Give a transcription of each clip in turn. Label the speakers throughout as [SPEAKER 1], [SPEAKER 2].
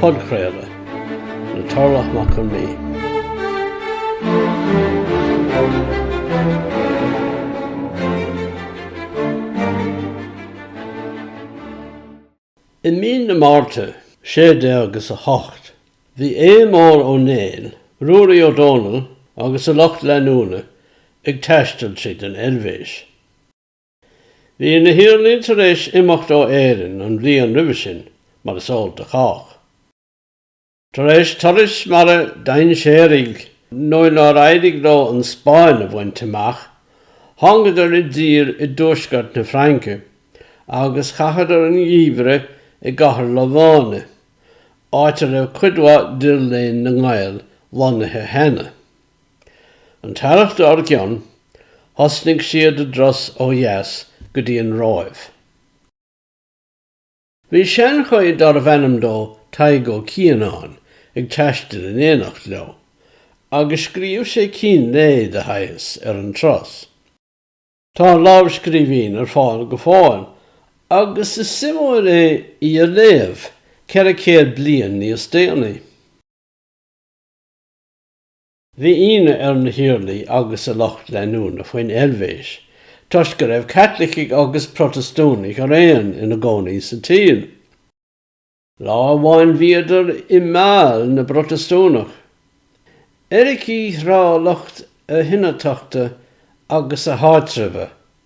[SPEAKER 1] Podchraoladh le Torlach Mac Con Midhe. I mí na Márta, sé déag is a hocht, bhí Aodh Mór Ó Néill, Ruairí Ó Dónaill agus a lucht leanúna ag taisteal tríd an Eilvéis. Bhí na hiarlaí tar éis imeacht ó Éirinn an bhliain roimhe sin, mar is eol do chách. Tar éis turais mara dainséaraigh nuair nár éirigh leo an Spáinn a bhaint amach, thángadar i dtír i dtuaisceart na Fraince agus chaitheadar an gheimhreadh i gcathair Lováin, áit a raibh cuid mhaith d'fhir léinn na nGael lonnaithe cheana. An t-earrach dár gcionn, thosnaigh siad a dturas ó dheas go dtí an Róimh. Bhí seanchaí darbh ainm dó Tadhg Ó Cianáin ag taisteal in éineacht leo, agus scríobh sé cín lae de shaghas ar an turas. Tá an lámhscríbhinn ar fáil go fóill, agus is suimiúil é í a léamh ceithre céad bliain níos déanaí. Bhí ionadh ar na hIarlaí agus a lucht leanúna faoin Eilvéis toisc go raibh Caitlicigh agus Protastúnaigh araon ina gcónaí sa tír. Lá amháin bhíodar i mBâle na bProtastúnach. Eiricigh thrá lucht a hionatachta agus a háitreabha,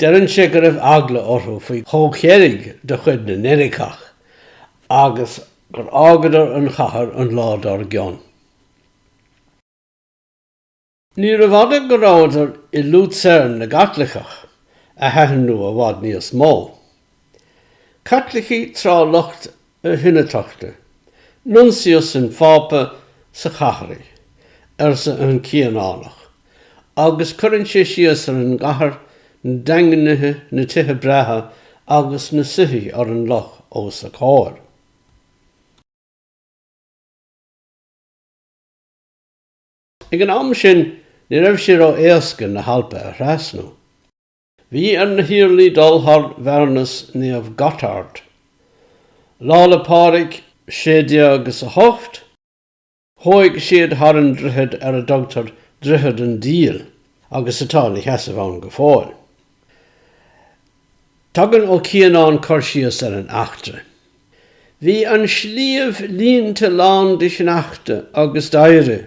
[SPEAKER 1] Deireann sé go raibh eagla orthu faoi chomhcheilg de chuid na n-eiriceach agus gur fhágadar an chathair an lá dár gcionn. Níorbh fhada go rabhadar i Lucerne na gCaitliceach, a thaitin leo i bhfad níos mó. Caitlicigh trá lucht a hionatachta, nuncius an Phápa sa chathraigh, arsa an Cianánach, agus cuireann sé síos ar an gcathair, na daingnithe, na tithe breátha agus na soithí ar an loch os a comhair. Ag an am sin, ní raibh sé ró-éasca na hAlpa a thrasnú. Bhí ar na hIarlaí dul thar bhearnas Naomh Gotthard. Lá 'le Pádraig, sé déag is a hocht, chuaigh siad thar an droichead ar a dtugtar Droichead an Diabhail agus atá ina sheasamh ann go fóill. Tugann Ó Cianáin cur síos ar an eachtra. Bhí an sliabh líonta lán de shneachta agus d'oighre.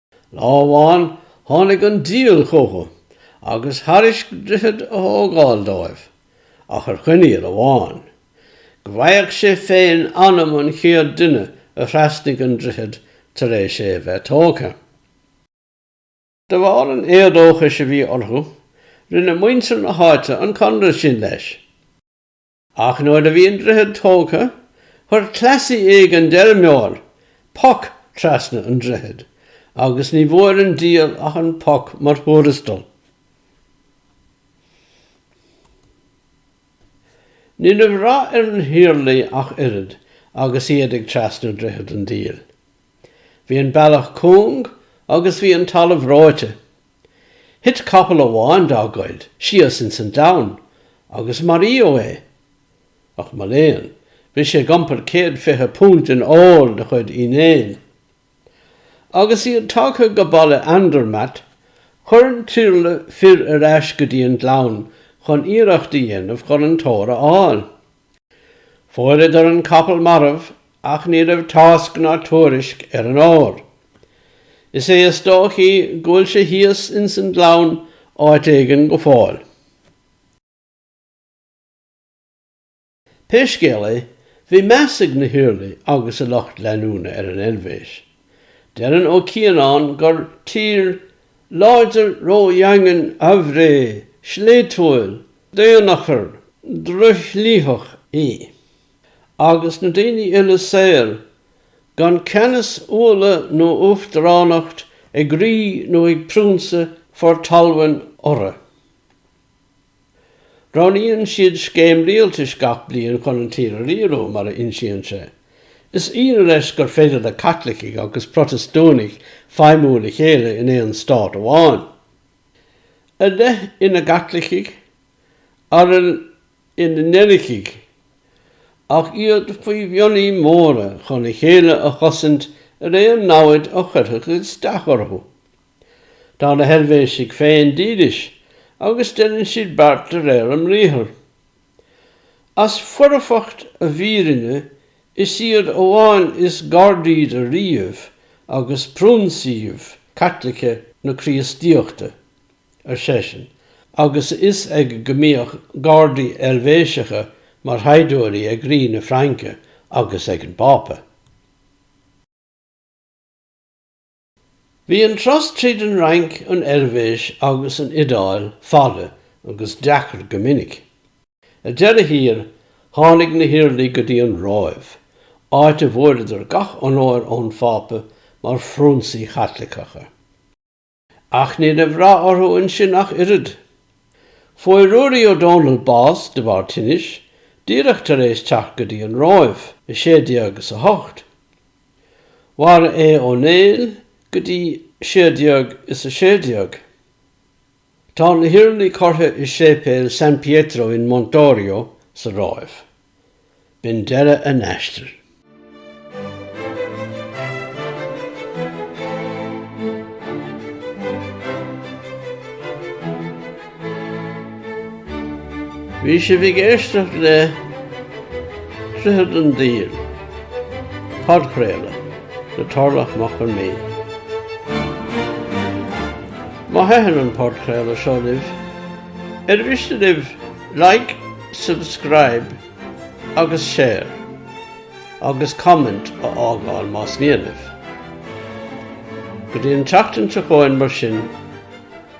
[SPEAKER 1] Lá amháin tháinig an diabhal chucu agus thairisc droichead a thógáil dóibh, ach ar choinníoll amháin, go bhfaigheadh sé féin anam an chéad duine a thrasnaigh an droichead tar éis é a bheith tógtha. De bharr an éadóchais a bhí orthu, rinne muintir na háite an conradh sin leis. Ach nuair a bhí an droichead tógtha, chuir cleasaí éigin d'fheirmeoir poc trasna an droichid agus ní bhfuair an diabhal ach an poc mar thuarastal. Ní raibh rath ar na hIarlaí ach oiread agus iad ag trasnú Droichead an Diabhail. Bhí an bealach cúng agus bhí an talamh reoite. Thit capall amháin dá gcuid síos ins an domhain agus maraíodh é. Ach mo léan, bhí sé ag iompar céad fiche púnt in ór de chuid Uí Néill. Agus iad tagtha go Baile Andermatt, chuir an t-iarla fir ar ais go dtí an gleann chun iarracht a dhéanamh chun an t-ór a fháil. Fuaireadar an capall marbh ach ní raibh tásc ná tuairisc ar an ór. Is é is dóichí go bhfuil sé thíos ins an gleann áit éigin go fóill. Pé scéal é, bhí meas ag na hIarlaí agus a lucht leanúna ar an Eilvéis. Deireann Ó Cianáin gur tír láidir ródhaingean aimhréidh, sléibhtiúil, d'aon achar drochshlitheach í, agus na daoine uile saor gan ceannas, umhla nó uachtaránacht ag rí nó ag priúnsa for talmhain orthu. Roghnaíonn siad scéim rialtais gach bliain chun an tír a riarú, mar a insíonn sé. Is ionadh leis gur féidir le Caitlicigh agus Protastúnaigh feidhmiú le chéile in aon stát amháin. A leath ina gCaitlicigh, araile ina n-eiricigh, ach iad faoi mhionnaí móra chun a chéile a chosaint ar aon namhaid a chuirfeadh isteach orthu. Tá na hEilvéisigh féin dílis agus deineann siad beart de réir a mbriathar. As foirfeacht a bhfírinne is iad amháin is gardaí do ríoghaibh agus priúnsaíbh Caitliceacha na Críostaíochta, ar seisean, agus a fhios aige go mbíodh gardaí Eilvéiseacha mar shaighdiúirí ag Rí na Fraince agus ag an bPápa. Bhí an turas tríd an Fhrainc, an Eilvéis agus an Iodáil fada agus deacair go minic. Ar deireadh thiar, tháinig na hIarlaí go dtí an Róimh, áit a bhfuaireadar gach onóir ón Phápa mar phrionsaí Caitliceacha. Ach ní raibh rath orthu ansin ach oiread. Fuair Ruairí Ó Dónaill bás de bharr tinnis, díreach tar éis teacht go dtí an Róimh, i 1608. Mhair Aodh Ó Néill go dtí sé déag is a sé déag. Tá na hIarlaí curtha i séipéal San Pietro in Montorio sa Róimh. B'in deireadh a n-aistir. Bhí sibh ag éisteacht le Droichead an Diabhail, podchraoladh le Tarlach Mac Con Mé. Má thaitníonn an podchraoladh seo libh, ar mhiste libh like, subscribe agus share agus comment a fhágáil más mian libh. Go dtí an tseachtain seo chugainn mar sin.